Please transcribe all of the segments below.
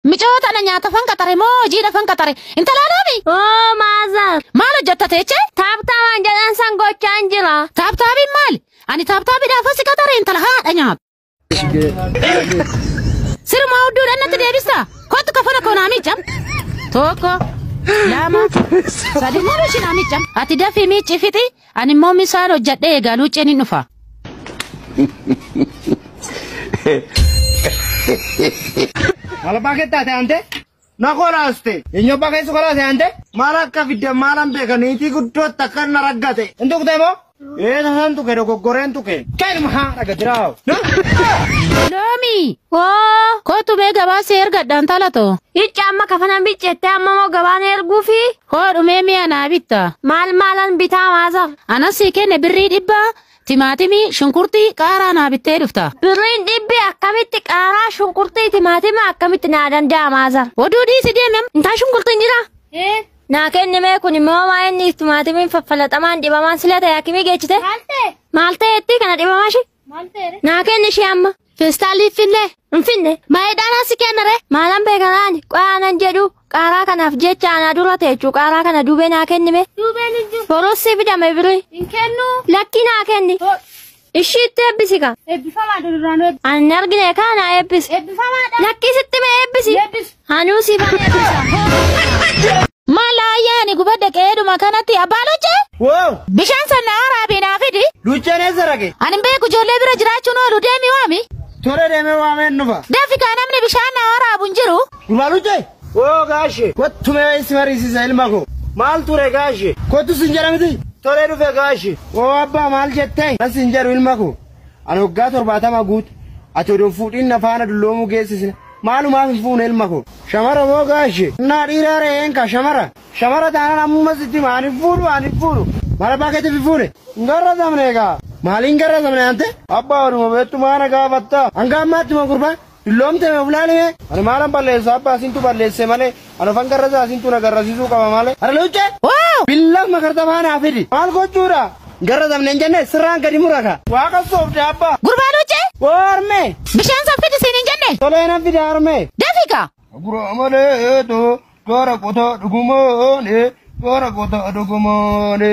Micoo tana nyaatafan qaxare moo hojiidhafan qaxare? Intalaa loomi! Oo maazar! Maal hojjetta teechee? Taaptaaban jedhan san gochaan jira. Taaptaabiin maali? Ani taaptaabiidhaaf asi qaxare intala haadha nyaatu. Sirumaa hudduudhaan natti deebistaa? Kottu kafana koo naa miiccam. Tokko, lama, sadi nama ishii naa miiccam. Ati dafii miicci fixi Ani immoo misaal hojjadhee egaa luucceen hin dhufa. Maal abbaa kee taate aantee? Na kolaaste. Eenyu abbaa keessu kolaase aantee? Maal akka fidde maalan beeka niitii guddoo takka na raggate. Hin tuqtee moo? Ee tasan tuqe dogoggoreen tuqe. Keenuma haa raggatiraawo. Loomi! Hoo! Kootu mee gabaasee ergadha intala too. Icci amma kafanan bicceettee amma moo gabaana erguufi? Hoo dhumee mi'a naa bitta. Maal maalan bitaa maasa? Anan sii kenne birrii dhibba timaatimii, shunkurtii, qaaraa naa bittee dhufta. Birriin dhibbi akkamitti qaaraa, shunkurtii, timaatima akkamitti naa danda'a maasa? Oduu dhiisi deemi amma. Intaa shunkurtiin jiraa? Ee. Naa kenni mee kun immoo maa inni timaatimiin faffalaxamaan dhibamaan sila ta'e akimii geechite? Maal ta'e? Maal ta'eetti kana dhibamaa ishee? Naa kenni ishee amma. Feestaalii finne hin finne maayidhaanaa si kennare maalan beekanaani qoyaanan jedhu qaaraa kanaaf jecha anaa dura teechu qaaraa kana duubee naa kennime. Duubeen hin jiru. Boruus si fidame birii. Hin kennu. Lakkii naa kenni. Ishii itti eebbisi kaa. Eebbifamaa duriirraan eebbi. Ani hin argine kaa naa eebbisi. Eebbifamaadha. Lakkii sitti mee eebbisi. Eebbisi. Anuu siifan eebbisa. Maal aayyaa ani gubadde qe'eedhuma kanatti abbaa lucce. Wow! Bishaan sanna haaraabii naa fidi. Lucceen eessa rage? Ani hin beeku ijoollee bira jiraachuun oolu deemi waami. Tole deemee waameen nufa. Daffi kaa namni bishaan naa haraabu hin jiru. Gurbaa luccee? Woo gaashe! Kottu mee issi mariisisa ilma koo. Maal ture gaashe? Kottu sin jedha miti? Tole dhufe gaashe. Woo abbaa maal jettee? As hin jedhu ilma koo. Ani waggaa torbaatama guutu ati odoo hin fuudhiin na faana dulloomuu geessisna. Maalumaaf hin fuune ilma koo? Shamara moo gaashe? Naa dhiiraa ree een kaa shamara? Shamara taanan ammuma sitti hima ani hin fuudhu ani hin fuudhu. Maal abbaa keetiif hin fuune? Hin garrasamne egaa. Maaliin garrasamne ante? Abbaa oduma beettu maa na gaafatta? Hanga ammaatti moo gurbaa? Dulloomte mee of laali mee. Ani maalan balleessa abba isintu balleesse malee an ofan garrasa isintu na garrasisuu qaba malee. Ara luucce. Wow! Billah makarta faa naa fidi. Maal gochuudha? Garrasamne hin jenne sirraan gadi mura ka. Waa qabsoofte abba. Gurbaa luucce. Woo harmee. Bishaan san fidi siin hin jenne. Tolee nan fida harmee. Dafi ka. Gura malee to gara kota dhugumaane gara kota dhugumaane.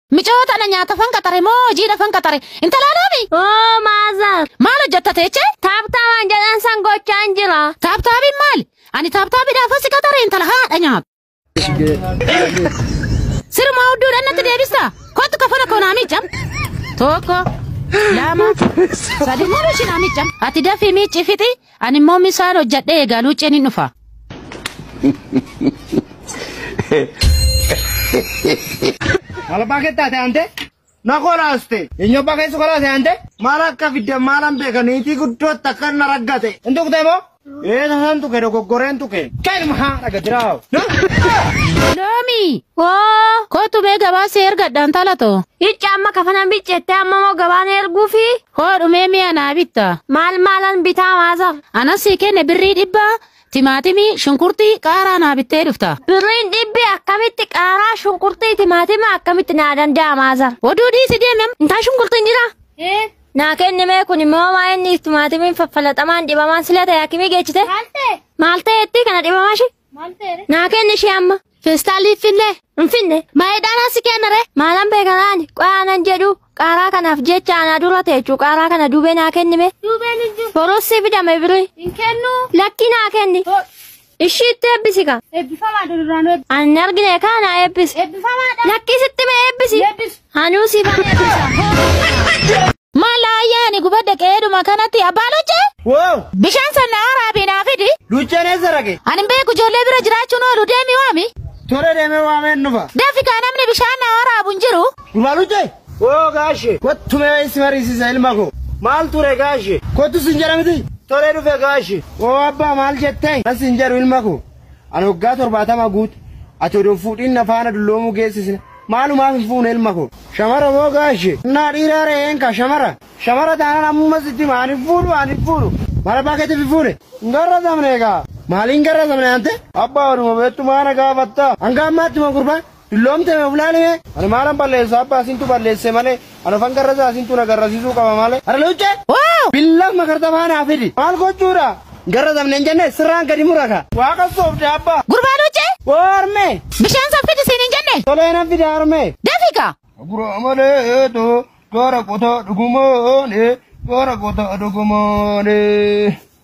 Micoo tana nyaatafan qaxare moo hojiidhafan qaxare? Intalaa loomi! Oo maazar! Maal hojjetta teeche? Taaptaabaan jedhan san gochaan jira. Taaptaabiin maali? Ani taaptaabiidhaafan si qaxare intala haadha nyaatu. Sirumaa hudduudhaan natti deebista. Kottu kafana koo naa miiccam. Tokko, lama, sadi mulu ishii naa miiccam. Ati dafii miicci fixi. Ani immoo misaan hojjadhee egaa luucceen hin dhufa. Maal abbaa kee taate aantee? Na kolaaste. Eenyu abbaa keessu kolaase aantee? Maal akka fidde maalan beeka niitii guddoo takka na raggate. Hin tuqte moo? Ee tasan tuqe dogoggoreen tuqe. Keen mahaa dhagatiraawo. Loomi! Oo! Kootu mee gabaasee ergadha intala too. Icci amma kafanan bicceettee amma moo gabaana erguufi? Hoo dhumee mi'a naa bitta? Maal maalan bitaa maasa? Anas sii kenne birrii dhibba timaatimii, shunkurtii, qaaraa naa bittee dhufta. Birriin dhibbi akkamitti qaaraa, shunkurtii, timaatima akkamitti naa danda'a maasa? Oduu dhiisi deemi amma. Intaa shunkurtiin jiraa? Ee. Naa kenni mee kuni moo maa inni timaatimiin faffalaxamaan dhibamaan sila ta'e akimii geechite? Maal ta'e? Maal ta'eetti kana dhibamaa ishee? Naa kenni ishee amma. Feestaalii finne hin finne maayidhaanaa si kennare maalan beekanaani qoyaanan jedhu qaaraa kanaaf jecha anaa dura teechu qaaraa kana duubee naa kennime. Duubeen hin jiru. Boruus si fidame birii. Hin kennu. Lakkii naa kenni. Ishii itti eebbisi ka. Eebbifamaa duduraan eebbi. Ani hin argine kaa naa eebbisi. Eebbifamaadha. Lakkii sitti mee eebbisi. Eebbisi. Anuu siifan eebbisa. Maallaa ayyaani gubadde qe'eedhuma kanatti abbaa lucce. Wow! Bishaan sanna aaraabii naa fidi. Lucceen eessa rage? Ani hin beeku ijoollee bira jiraachuun oolu deemi waami. Tole deemee waameen dhufa. Daffikaa namni bishaan naa waraabu hin jiru. Gurbaa luccee? Woo gaashe! Kottu mee issi mariisisa ilma koo. Maal ture gaashe? Kottu sin jedha miti? Tole dhufe gaashe. Woo abbaa maal jettee? Nas hin jedhu ilma koo. Ani waggaa torbaatama guutu ati odoo hin fuudhiin na faana dulloomuu geessisna. Maalumaaf hin fuune ilma koo? Shamara moo gaashe? Naa dhiiraa ree een kaa shamara? Shamara taanan ammuma sitti hima ani hin fuudhu ani hin fuudhu. Maal abbaa keetiif hin fuune? Hin garrasamne egaa. Maaliin garrasamne aantee? Abbaa oduma beettu maa na gaafatta? Hanga ammaatti moo gurbaan? Dulloomte mee of laali mee. Ani maalan balleessa abba asintu balleesse male an ofan garrasa asintu na garrasisuu qaba male ara luucce billaf makarta faa naa fidi maal gochuudha garrasamne hin jenne sirraan gadi mura ka waaqa soofte abba Gurbaa luucce woo arme bishaan san fidi siin hin jenne. tolee nan fida arme Dafi ka. Gura malee to gara kota dhugumaane gara kota dhugumaane.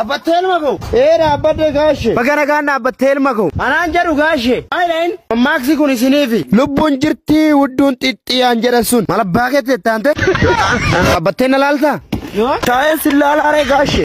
Abbattee ilma koo. Ee dhaabbadde gaashe. Baga nagaan dhaabbattee ilma koo. Anaan jedhu gaashe. Maaliin? Mammaaksi kun isiniifi. Lubbuun jirti wudduun xixxiyaan jedhan sun. Mal abbaa keetti jettaante? Dhaabbattee na laalta? Taa'een sin laalaaree gaashe.